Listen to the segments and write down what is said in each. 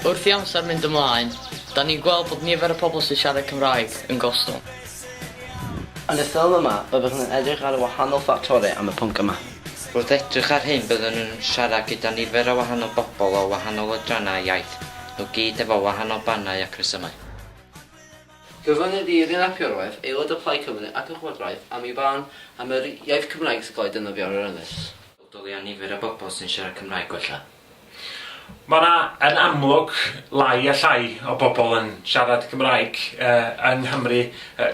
Wrth i amser mynd ymlaen, da ni'n gweld bod nifer y pobl sy'n siarad Cymraeg yn gostwng. Yn y ffilm yma, byddwch yn edrych ar y wahanol ffactorau am y pwnc yma. Wrth edrych ar hyn byddwn yn siarad gyda nifer o wahanol bobl o wahanol adrannau iaith, nhw gyd efo wahanol barnau ac rhesymau. Gofynnir i Rhun ap Iorwerth, aelod o Plaid Cymru ac y Llywodraeth, am ei farn am yr iaith Cymraeg sy'n cael ei defnyddio ar yr ynys. bodoli a nifer y bobl sy'n siarad Cymraeg gwella. Mae yna, yn amlwg, lai a llai o bobl yn siarad Cymraeg yng Nghymru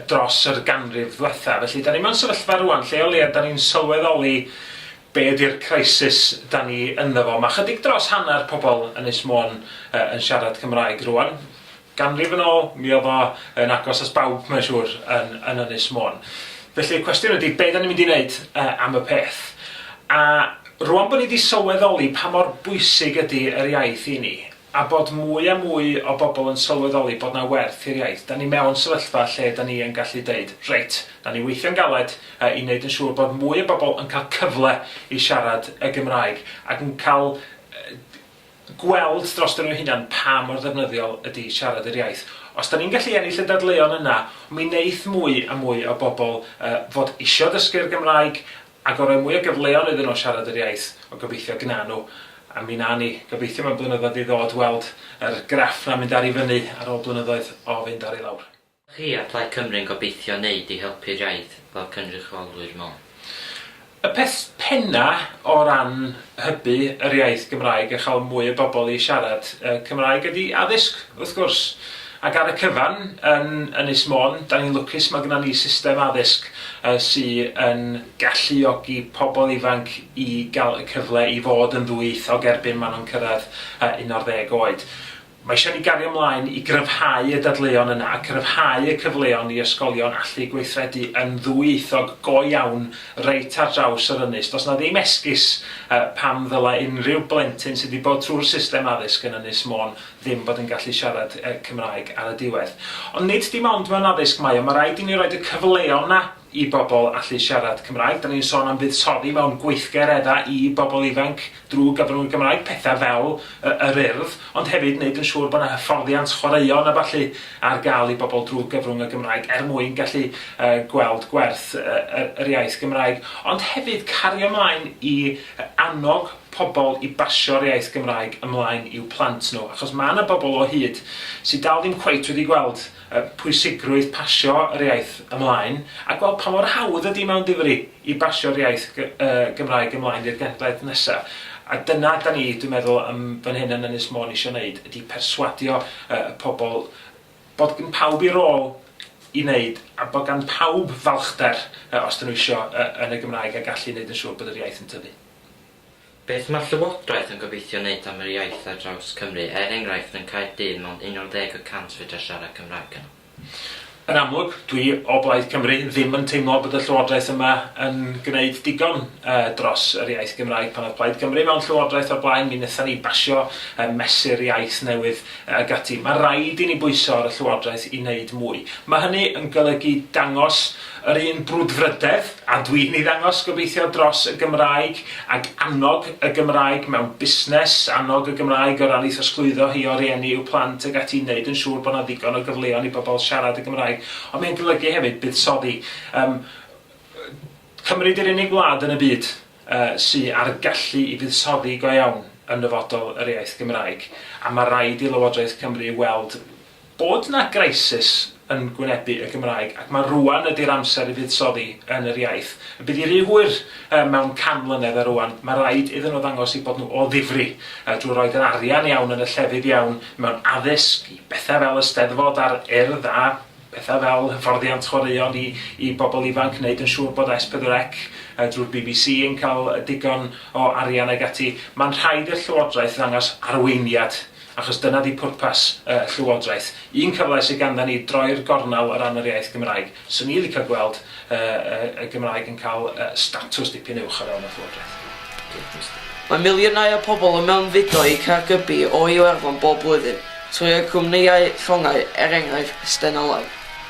dros yr ganrif ddwetha. Felly, da ni mewn sefyllfa rwan lle o leiaf da ni'n sylweddoli be ydi'r crisis da ni ynddo fo. Mae chydig dros hanner pobl Ynys Môn yn siarad Cymraeg rwan. Ganrif yn ôl, mi oedd o yn agos at bawb mae'n siŵr yn yn Ynys Môn. Felly y cwestiwn ydi be' 'dan ni'n mynd i neud yy am y peth? A rŵan bo' ni 'di sylweddoli pa mor bwysig ydi yr iaith i ni, a bod mwy a mwy o bobl yn sylweddoli bod 'na werth i'r iaith, 'dan ni mewn sefyllfa lle 'dan ni yn gallu deud, reit, 'dan ni weithio'n galed yy i neud yn siŵr bod mwy o bobl yn ca'l cyfle i siarad y Gymraeg ac yn ca'l yy gweld droston ni'n hunan pa mor ddefnyddiol ydy siarad yr iaith. Os 'da ni'n gallu ennill y dadleuon yna, mi wneith mwy a mwy o bobl fod isio dysgu'r Gymraeg, ac o roi mwy o gyfleon iddyn nhw siarad yr iaith, wel gobeithio gna nhw. A mi wna ni, gobeithio mewn blynyddoedd i ddod, weld yr graff 'na'n mynd ar i fyny ar ôl blynyddoedd o fynd ar i lawr. chi a Plaid Cymru'n gobeithio wneud i helpu'r iaith fel cynrychiolwyr mewn. Y peth penna o ran hybu yr iaith Gymraeg a chael mwy o bobl i siarad Cymraeg ydi addysg, wrth gwrs. Ac ar y cyfan, yn Ynys Môn, 'da ni'n lwcus, mae gynnon ni system addysg sy yn galluogi pobl ifanc i gael y cyfle i fod yn ddwyieithog erbyn maen nhw'n cyrraedd 11 oed. Mae eisiau i ni gario ymlaen i gryfhau y dadleuon yna a chryfhau y cyfleon i ysgolion allu gweithredu yn ddwyieithog go iawn reit ar draws yr ynys. Does 'na ddim esgus pam ddylai unrhyw blentyn sydd 'di bod trwy'r system addysg yn Ynys Môn ddim bod yn gallu siarad Cymraeg ar y diwedd. Ond nid dim ond mewn addysg mae o, mae raid i ni roid y cyfleon 'na. i bobl allu siarad Cymraeg. Dan ni'n sôn am fuddsoddi mewn gweithgareddau i bobl ifanc drwy gyfrwng y Gymraeg, pethau fel yr Urdd, ond hefyd wneud yn siŵr bod 'na hyfforddiant chwaraeon a ballu ar gael i bobl drwy gyfrwng y Gymraeg er mwyn gallu gweld gwerth yr iaith Gymraeg, ond hefyd cario mlaen i annog pobl i basio'r iaith Gymraeg ymlaen i'w plant nhw, achos ma' 'na bobl o hyd sy' dal ddim cweit wedi gweld y pwysigrwydd pasio yr iaith ymlaen, a gweld pa mor hawdd ydy mewn difri i basio'r iaith Gymraeg ymlaen i'r genhedlaeth nesaf. A dyna da ni, dwi'n meddwl, yn fan hyn yn Ynys Môn eisiau wneud, ydy perswadio y pobl bod gan pawb ei rôl i wneud, a bod gan pawb falchder, os dan nhw eisiau, yn y Gymraeg, a gallu wneud yn siŵr bod yr iaith yn tyfu. Beth mae'r Llywodraeth yn gobeithio wneud am yr iaith ar draws Cymru, er enghraifft yn Caerdydd mond 11 y cant fedra siarad Cymraeg yno? Yn amlwg, dwi o Blaid Cymru, ddim yn teimlo bod y Llywodraeth yma yn gwneud digon dros yr iaith Gymraeg. Pan oedd Plaid Cymru mewn Llywodraeth o'r blaen, mi wnaethon ni basio Mesur Iaith newydd ac ati. Mae raid i ni bwyso ar y Llywodraeth i wneud mwy. Mae hynny yn golygu dangos Yr un brwdfrydedd a dwi'n ei ddangos gobeithio dros y Gymraeg ag annog y Gymraeg mewn busnes, annog y Gymraeg o ran ei throsglwyddo hi o rieni i'w plant ac ati, wneud yn siŵr bod 'na ddigon o gyfleon i bobl siarad y Gymraeg. Ond mae'n golygu hefyd buddsoddi. Yym cymryd yr unig wlad yn y byd yy sy a'r gallu i fuddsoddi go iawn yn nyfodol yr iaith Gymraeg a ma' raid i Lywodraeth Cymru weld Bod 'na grisys yn gwynebu y Gymraeg ac mae rŵan ydi'r amser i fuddsoddi yn yr iaith. Y bydd hi rhy hwyr mewn can mlynedd a rŵan mae raid iddyn nhw ddangos eu bod nhw o ddifri drwy roid yr arian iawn yn y llefydd iawn mewn addysg, i bethau fel y Steddfod a'r Urdd a pethau fel hyfforddiant chwaraeon i i bobl ifanc, wneud yn siŵr bod S4C drwy'r bbc yn cael digon o arian ag ati. Mae'n rhaid i'r Llywodraeth ddangos arweiniad achos dyna 'di pwrpas y Llywodraeth. Un cyfle sy ganddon ni droi'r gornel o ran yr iaith Gymraeg. 'Swn i licio gweld y y y Gymraeg yn cael y statws dipyn uwch o fewn y Llywodraeth. Diolch. Mae miliynau o pobl yn mewnfudo i Caergybi o Iwerddon bob blwyddyn, trwy eu cwmnïau llongau, er enghraifft, Stena Line.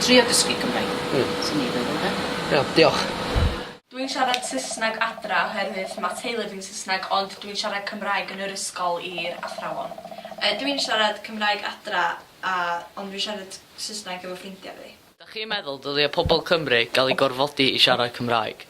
Trio dysgu Cymraeg. Hmm. Swn i'n feddwl de. Iawn, diolch. Dwi'n siarad Saesneg adra oherwydd ma' teulu fi'n Saesneg ond dwi'n siarad Cymraeg yn yr ysgol i'r athrawon. Yy dwi'n siarad Cymraeg adra a ond dwi'n siarad Saesneg efo ffrindia fi. Dach chi'n meddwl dylia pobl Cymru gael eu gorfodi i siarad Cymraeg?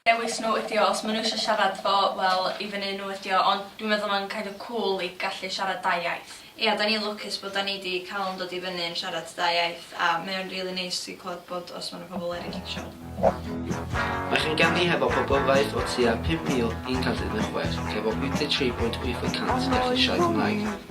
dewis nhw ydi o os ma' nhw isio siarad fo wel i fyny i nhw ydi o ond dwi'n meddwl ma'n kind of cŵl i gallu siarad dau iaith. Ia 'dan ni'n lwcus bod 'dan ni 'di ca'l yn dod i fyny yn siarad dau iaith a mae o'n rili neis i clywed bod os ma' 'na pobl eryll isio. Mae chi'n ganu hefo poblogaeth o tua 5,000 i'n cantiau yn y chwe, efo 83.8 y cant yn gallu siarad Cymraeg.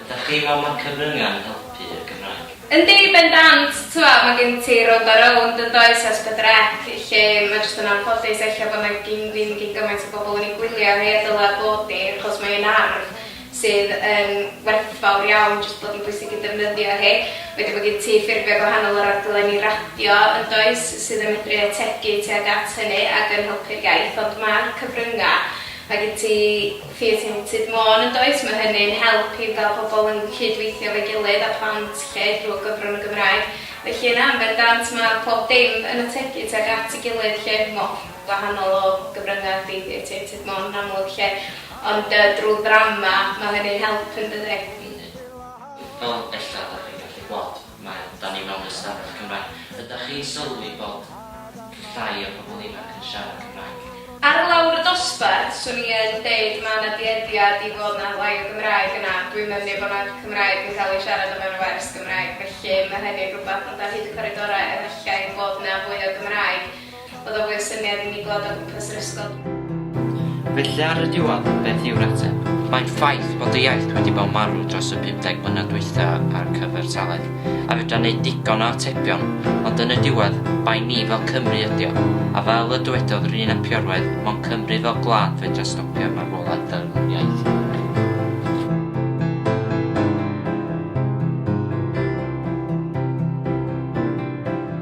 Ydach chi'n meddwl mae cyfryngau yn helpu y Gymraeg? Yndi, bendant! Tibod, mae gen ti Road Our Own, yn does, ers pedwar ec, lle mae jyst yn anffodus ella bod 'na gin ddim gin gymaint o bobl yn ei gwylio rhei a ddylai bod ni, achos mae hi'n arf sydd yn werthfawr iawn jyst bod yn bwysig i defnyddio hi. Wedyn mae gen ti ffurfiau gwahanol o raglenni radio, yn does, sydd yn medru ategu tuag at hynny ac yn helpu'r iaith, ond ma'r cyfryngau, mae gen ti, Theatr Natur Môn yn does? Mae hynny'n help i gael pobl yn cyd-weithio efo'i gilydd a plant 'lly drwy gyfrwng y Gymraeg. Felly yna yn bendant mae pob dim yn ategu tuag at ei gilydd 'lly. Mor wahanol o gyfryngau ydy Theatr Môn yn amlwg 'lly. Ond yy drwy ddrama mae hynny'n help yn dydi? Yndi. Fel ella dach chi'n gallu gweld. Mae, da ni mewn ystafell Cymraeg. Ydach chi'n sylwi bod llai o pobl ifanc yn siarad Cymraeg? Ar lawr y dosbarth, swn i yn deud ma' 'na dueddiad i fod 'na lai o Gymraeg yna. Dwi'm yn mynu bo' 'na Cymraeg yn cael ei siarad o fewn y wers Gymraeg, felly ma' hynny'n rhywbeth, ond ar hyd y coridorau efallai bod 'na fwy o Gymraeg. Oedd o fwy o syniad i mi glywed o gwmpas yr ysgol. Felly ar y diwedd, beth yw'r ateb? Mae'n ffaith bod y iaith wedi bod yn marw dros y 50 mlynedd dwytha a'r cyfartaledd, a fedra wneud digon o atebion, ond yn y diwedd, bai ni fel Cymry ydi o, a fel y dywedodd yr un apiorwedd, mond Cymru fel gwlad fedra stopio'r marwolaeth fel iaith.